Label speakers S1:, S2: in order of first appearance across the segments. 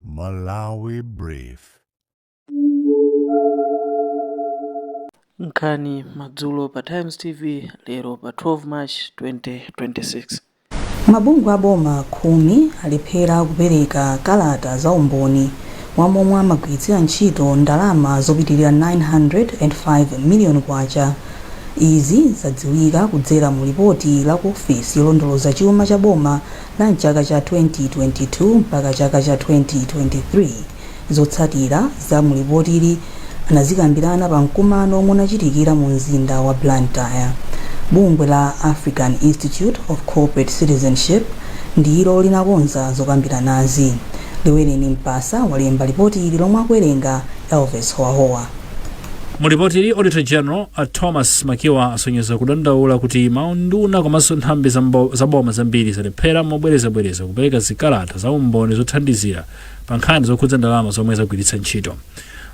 S1: Malawi
S2: Brief. Nkhani madzulo pa Times TV lero pa 12 March 2026. Mabungwe
S3: a boma khumi alephera kupereka kalata za umboni wa momwe amagwiritsira ntchito ndalama zopitirira 905 miliyoni kwacha. Izi zadziwika kudzera mu lipoti la ku ofesi yolondoloza chuma cha boma La m'chaka cha 2022 mpaka chaka cha 2023, zotsatira za mu lipotili anazikambirana pa mkumano omwe unachitikira mu mzinda wa Blantyre. Bungwe la African Institute of Corporate Citizenship ndilo linakonza zokambiranazi. Liwereni Mpasa walemba lipotili lomwe akuwerenga Elvis Howahowa.
S4: Mu lipotili, Auditor General a Thomas Makiwa asonyeza kudandaula kuti maunduna komanso nthambi za boma zambiri zalephera mobwerezabwereza kupereka zikalata za umboni zothandizira pa nkhani zokhudza ndalama zomwe zagwiritsa ntchito.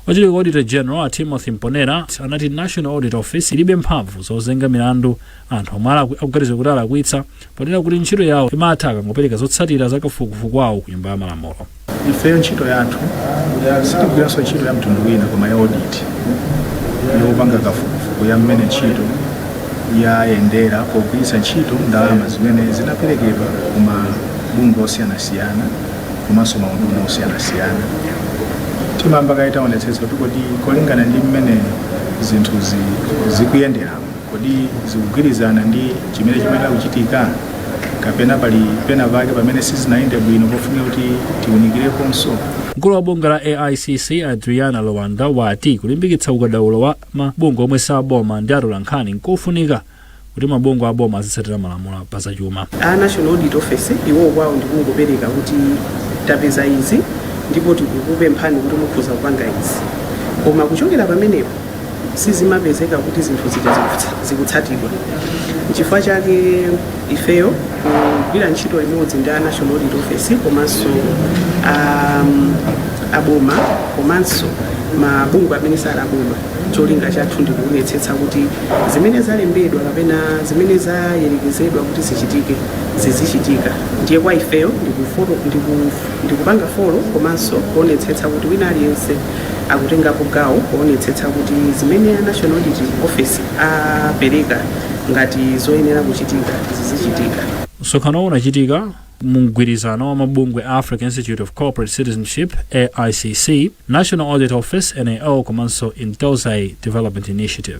S4: Wachiwiri kwa Auditor General a Timothy Mponera anati National Audit Office ilibe mphamvu zozenga milandu anthu omwe akuganiza kuti alakwitsa ponena kuti ntchito yawo imatha akangopereka zotsatira za kafukufuku wawo ku nyumba ya malamulo ifeyo
S5: ntchito yathu sitigwiranso ntchito ya mtundu wina koma ya audit yopanga kafukufuku ya mmene ntchito yayendera pogwiritsa ntchito ndalama zimene zinaperekedwa ku mabungwe osiyanasiyana komanso maunduna osiyanasiyana timayamba kaye taonetsetsa kuti kodi kolingana ndi mmene zinthu zikuyendera Kodi zikugwirizana ndi chimene chimayenera kuchitika, kapena pali pena pake pamene sizinayende bwino pofunika kuti tiunikireponso? Mkulu wa
S4: bungwe la AICC a Driana Lwanda wati kulimbikitsa ukadaulo wa mabungwe omwe si aboma ndi atolankhani nkofunika kuti mabungwe a boma azitsatira malamulo pa zachuma. A National Audit
S6: Office iwo kwawo ndi kungopereka kuti tapeza izi ndipo tikukupemphani kuti mukhoza kupanga izi, koma kuchokera pamenepo sizimapezeka kuti zinthu zija zikutsatidwa nchifukwa chake ifeyo kugwira ntchito limodzi ndi a national audit office komanso um, aboma komanso mabungwe amene sali aboma cholinga chathu ndi kuonetsetsa kuti zimene zalembedwa kapena zimene zayerekezedwa kuti zichitike zizichitika ndiye kwa ifeyo ndikupanga folo komanso kuonetsetsa kuti wina aliyense akutengapo gawo poonetsetsa kuti zimene a National Audit Office apereka ngati zoyenera kuchitika zizichitika. Msonkhanowu
S4: unachitika mu mgwirizano wa mabungwe a Africa Institute of Corporate Citizenship, AICC, National Audit Office, NAO, komanso Intosai Development Initiative.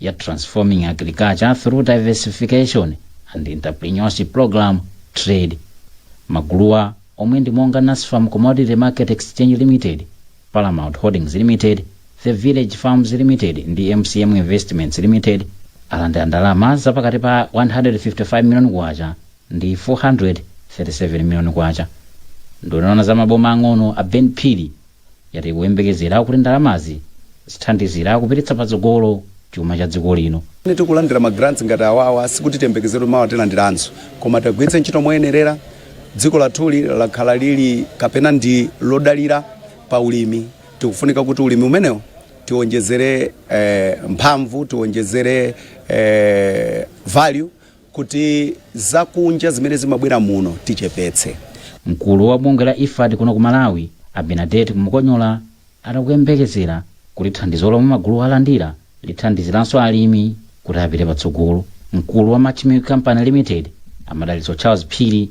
S7: ya Transforming Agriculture Through Diversification and Entrepreneurship Program, TRADE. Maguluwa omwe ndi monga Nasfam Commodity Market Exchange Limited, Paramount Holdings Limited, The Village Farms Limited ndi MCM Investments Limited alandira ndalama zapakati pa 155 million kwacha ndi K437 miliyoni. Nduna ya za maboma ang'ono a Ben Phiri yati ikuyembekezera kuti ndalamazi zithandizira kupititsa patsogolo chuma cha dziko lino. Pamene tikulandira ma grants
S8: ngati awawa sikuti tiyembekezere mawa tilandiranso koma tiagwiritse ntchito moyenerera. Dziko lathuli lakhala lili kapena ndi lodalira pa ulimi, tikufunika kuti ulimi umenewo tionjezere mphamvu, tionjezere value. kuti zakunja zimene zimabwera muno tichepetse. Mkulu wa
S7: bungwe la IFAD kuno ku Malawi, a Bernadette Mukonyora, ati akuyembekezera kuti thandizo lomwe maguluwa alandira lithandiziranso alimi kuti apite patsogolo. Mkulu wa Mach Milk Company Limited, a Madalitso Charles Phiri,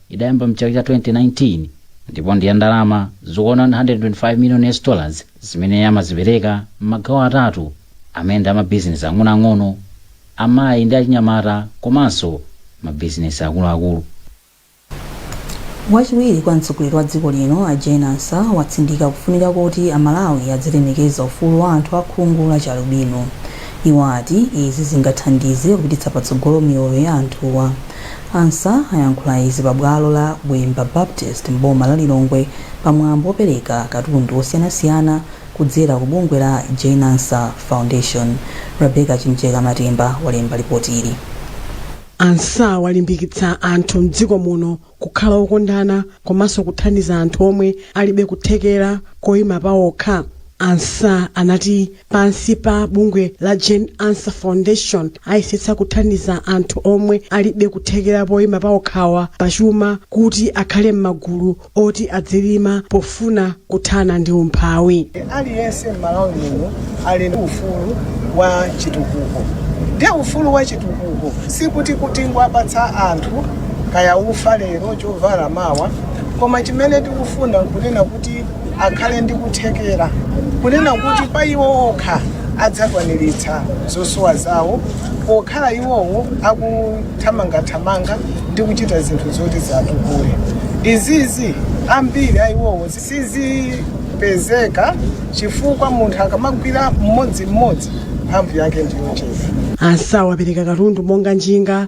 S7: Idayamba m'chaka cha 2019 ndipo ndi ya ndalama zokwana 125 million US dollars zimene amazipereka m'magawo atatu amene ndi a mabizinesi ang'onoang'ono, amayi ndi achinyamata komanso mabizinesi akuluakulu.
S3: Wachiwiri kwa mtsogoleri wa dziko lino a Jane Ansah watsindika kufunika koti a Malawi adzilemekeza ufulu wa anthu a khungu la chialubino. Iwo ati izi zingathandize kupititsa patsogolo miyoyo ya anthuwa. Ansah ayankhula izi pa bwalo la Bwemba Baptist m'boma la Lilongwe pa mwambo opereka katundu osiyanasiyana kudzera ku bungwe la Jane Ansah Foundation. Rebecca Chimjeka Matemba walemba lipotili.
S9: Ansah walimbikitsa anthu mdziko muno kukhala okondana komanso kuthandiza anthu omwe alibe kuthekera koima paokha. Ansah anati, Pansi pa bungwe la Jane Ansah Foundation, ayesetsa kuthandiza anthu omwe alibe kuthekera poima paokhawa pachuma kuti akhale m'magulu oti adzilima pofuna kuthana ndi umphawi. Aliyense
S10: m'Malawi muno ali ndi ufulu wa chitukuko. Ndiye ufulu wa chitukuko sikuti kuti nkuwapatsa anthu kaya ufa lero, chovala mawa, koma chimene tikufuna nkunena kuti akhale ndi kuthekera kunena kuti pa iwo okha adzakwaniritsa zosowa zawo pokhala iwowo akuthamangathamanga ndi kuchita zinthu zoti ziwatukule izizi ambiri a iwowo sizipezeka chifukwa munthu akamagwira mmodzimmodzi mphamvu yake ndiyochepa Ansah wapereka
S9: katundu monga njinga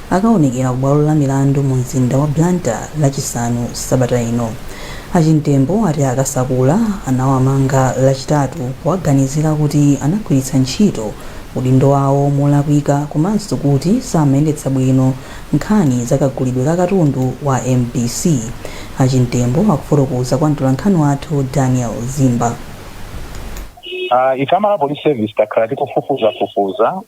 S3: akawonekera ku bwalo la milandu mu mzinda wa Blantyre lachisanu sabata ino. A Chimtembo ati a Kasakula anawamanga lachitatu powaganizira kuti anagwiritsa ntchito udindo wawo molakwika komanso kuti samayendetsa bwino nkhani za kagulidwe ka katundu wa mbc. A Chimtembo akufotokoza kwa mtolankhani wathu Daniel Zimba.
S11: Ife a Malawi Police Service takhala tikufufuzafufuza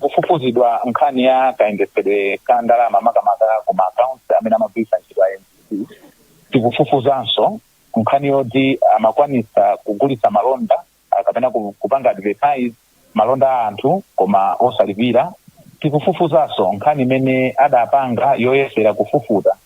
S11: Kufufuzidwa nkhani ya kayendetsedwe ka ndalama makamaka ku ma accounts amene amagwiritsa ntchito a mbc. Tikufufuzanso nkhani yoti amakwanitsa kugulitsa malonda kapena kupanga advertise malonda a anthu koma osalipira. Tikufufuzanso nkhani imene adapanga yoyesera kufufuta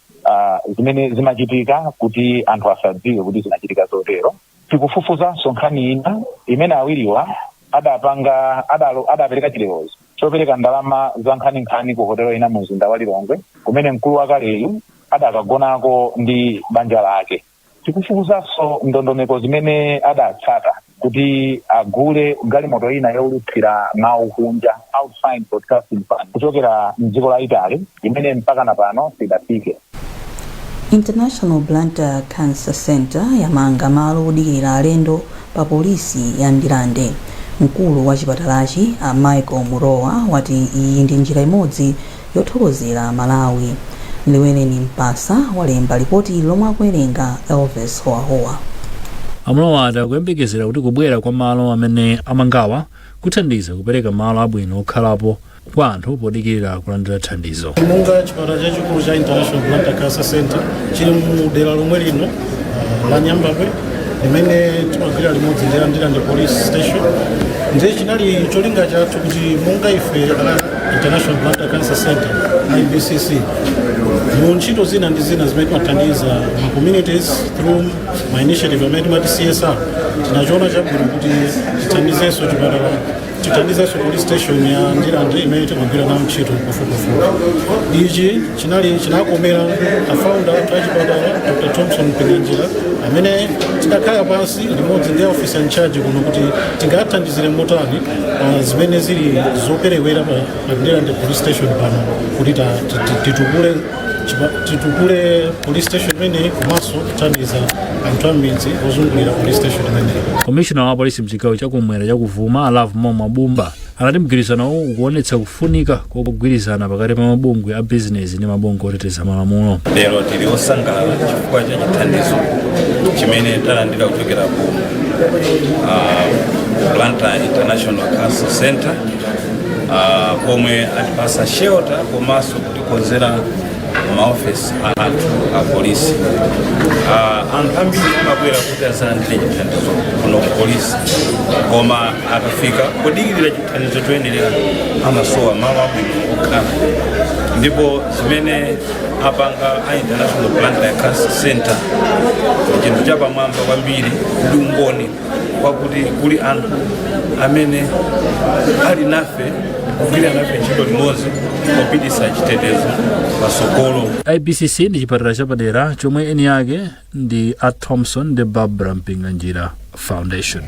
S11: zimene zimachitika kuti anthu asadziwe kuti zinachitika zotero. Tikufufuzanso nkhani ina imene awiriwa adapanga adalo adapereka chilolezo chopereka ndalama za nkhaninkhani ku hotelo ina mumzinda wa Lilongwe kumene mkulu wakaleyu adakagonako ndi banja lake. Tikufufuzanso ndondomeko zimene adatsata kuti agule galimoto ina youlutsira mawu kunja, Outside Broadcasting Van, kuchokera m'dziko la Italy imene mpakana pano sidafike.
S3: International Blantyre Cancer Centre yamanga malo odikirira alendo pa polisi ya Ndirande. Mkulu wa chipatalachi a Michael Murowa wati iyi ndi njira imodzi yothokozera Malawi. Liweleni Mpasa walemba lipoti lomwe akuwerenga Elvis Howahowa. A
S4: Murowa ati akuyembekezera kuti kubwera kwa malo amene amangawa kuthandiza kupereka malo abwino okhalapo kwa anthu podikirira kulandira thandizo. Monga
S12: chipatala chachikulu cha International Blantyre Cancer Center chili mu dera lomwe lino uh, la Nyambadwe limene timagwira limodzi ndi Ndirande police station ndiye chinali cholinga chathu kuti monga ife la International Blantyre Cancer Center IBCC mu ntchito zina ndi zina zimene timathandiza ma communities through ma initiative amene timati CSR tinachiona chabwino kuti tithandizenso chipatala tithandizenso police station ya ndirande imene timagwira nawo ntchito pafupifupi ichi chinali chinakomera afounder athu achipatala dr thompson mpinganjira amene tidakhala pansi limodzi ndi officer in charge kuno kuti tingathandizire motani pa zimene zili zoperewera pa pa ndirande police station pano kuti ta- ti- ti- titukule titukule police station imeneyi komanso kuthandiza anthu amidzi ozungulira police
S4: station imeneyi komishona wa polisi
S12: mchigawo
S4: chakumwera
S12: chakuvuma
S4: a Lovemore
S12: Mwabumba
S4: anati mgwirizanowo ukuonetsa kufunika kogwirizana pakati pa mabungwe a bizinesi ndi mabungwe oteteza malamulo lero
S13: tili osangalala chifukwa cha chithandizo chimene talandira kuchokera ku uh, Blantyre International Cancer Center uh, pomwe atipasa shelter komanso kutikonzera maofesi athu apolisi uh, anthu ambiri amabwera kuti azalandire chithandizo kuno kupolisi koma akafika kudikirira chithandizo choyenera amasowa malo abwino okhala ndipo zimene apanga a international Blantyre cancer center chinthu chapamwamba kwambiri ndi umboni wakuti kuli anthu amene ali nafe kugwira nafe ntchito limodzi popititsa chitetezo patsogolo ibcc ndi
S4: chipatala chapadera chomwe eni ake ndi a thomson ndi barbara mpinganjira foundation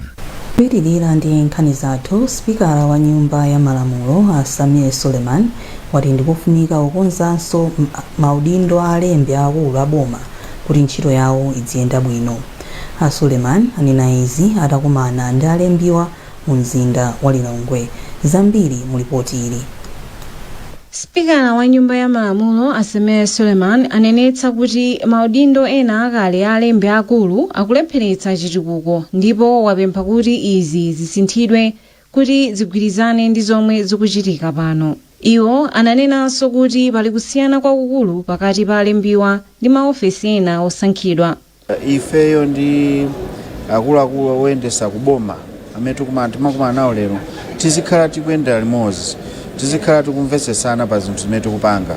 S3: kupitirira ndi nkhani zathu spikala wa nyumba ya malamulo a sameer suleman wati ndikufunika kukonzanso maudindo a alembi aakulu a boma kuti ntchito yawo idziyenda bwino A Suleman anena izi atakumana ndi alembiwa mu mzinda wa Lilongwe. Zambiri mu lipoti ili.
S14: Sipikala wa nyumba ya malamulo a Sameer Suleman anenetsa kuti maudindo ena akale a alembi aakulu akulepheretsa chitukuko ndipo wapempha kuti izi zisinthidwe kuti zigwirizane ndi zomwe zikuchitika pano. Iwo ananenanso kuti pali kusiyana kwakukulu pakati pa alembiwa ndi maofesi ena osankhidwa.
S15: ifeyo ndi akuluakulu oyendesa kuboma amene tikumana nawo lero tizikhala tikuyendera limodzi tizikhala tikumvetsesana pa zinthu zimene tikupanga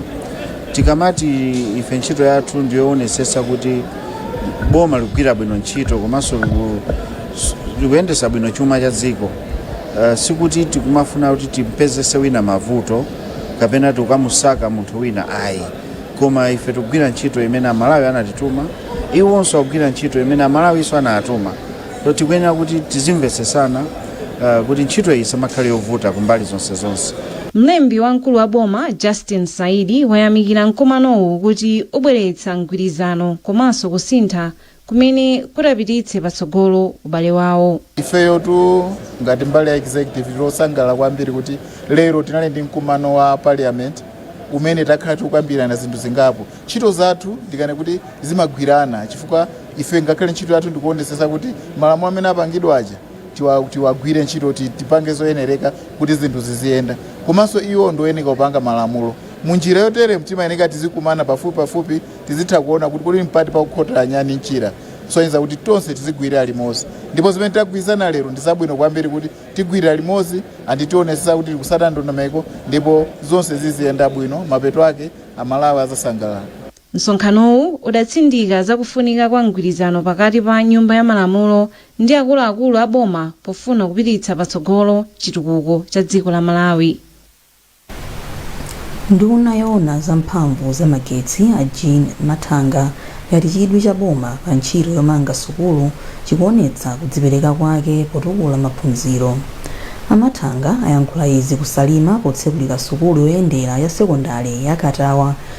S15: tikamati ife ntchito yathu ndiyoonetsetsa kuti boma likugwira bwino ntchito komanso liku- s- likuyendesa bwino chuma cha dziko uh, sikuti tikumafuna kuti timpezese wina mavuto kapena tikukamusaka munthu wina ayi koma ife tikugwira ntchito imene amalawi anatituma iwonso akugwira ntchito imene amalawinso anatuma so tikuyenera kuti tizimvetsesana uh, kuti ntchito iyi isamakhale yovuta kumbali zonse zonse Mlembi wamkulu
S14: wa boma Justin Saidi wayamikira mkumanowu kuti ubweretsa mgwirizano komanso kusintha kumene kutapititse patsogolo ubale wawo. Ifeyotu
S16: ngati mbali ya executive tili osangalala kwambiri kuti lero tinali ndi mkumano wa parliament umene takhala tikukambirana zinthu zingapo. Ntchito zathu ndikane kuti zimagwirana chifukwa ife ngakhale ntchito yathu ndikuonetsetsa kuti malamulo amene apangidwa aja tiwa- tiwagwire ntchito kuti tipange zoyenereka kuti zinthu ziziyenda komanso iwo ndi oyeneka kupanga malamulo munjira yotere timayeneka tizikumana pafupipafupi tizitha kuona kuti kodi mpati pakukhotera nyani mchira kusonyeza kuti tonse tizigwirira limodzi ndipo zimene tagwirizana lero ndi zabwino kwambiri kuti tigwirira limodzi and tionetsetsa kuti tikusata ndondomeko ndipo zonse ziziyenda bwino mapeto ake amalawi azasangalala
S14: Msonkhanowu udatsindika za kufunika kwa mgwirizano pakati pa Nyumba ya Malamulo ndi akuluakulu a boma pofuna kupititsa patsogolo chitukuko cha dziko la Malawi.
S3: Nduna yoona za mphamvu za magetsi a Jean Mathanga yati chidwi cha boma pa ntchito yomanga sukulu chikuonetsa kudzipereka kwake potukula maphunziro. A Mathanga ayankhula izi ku Salima potsekulira sukulu yoyendera ya sekondale ya Katawa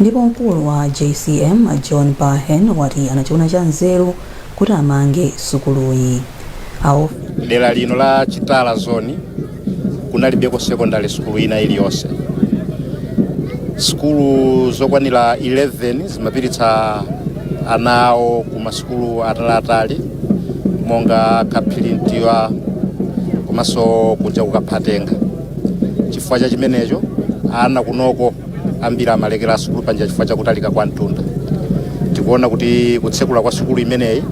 S3: Ndipo mkulu wa JCM John Bahen wati anachiona cha nzeru kuti amange sukuluyi.
S17: Dera lino la Chitala zone kunalibeko secondary school ina iliyonse sukulu zokwanira 11 zimapititsa ana awo ku masukulu ataliatali monga Kaphirintiwa komanso kuja ku Kaphatenga chifukwa cha chimenecho ana kunoko ambiri amalekera sukulu panjira chifukwa cha kutalika kwa mtunda tikuona kuti kutsekula kwa sukulu imeneyi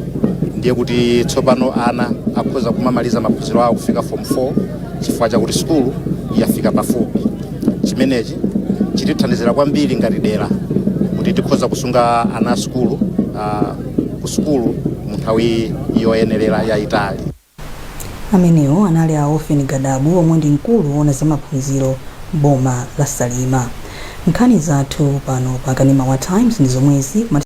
S17: ndiye kuti tsopano ana akhoza kumamaliza maphunziro awo kufika form 4 chifukwa chakuti sukulu yafika pafupi chimenechi chitithandizira kwambiri ngati dera kuti tikhoza kusunga ana a sukulu ah, ku sukulu mu nthawi yoyenerera yayitali
S3: Amenewo anali a Ofen Gadabu omwe ndi mkulu woona za maphunziro m'boma la Salima. Nkhani zathu pano pa Kanema wa Times ndi zomwezi.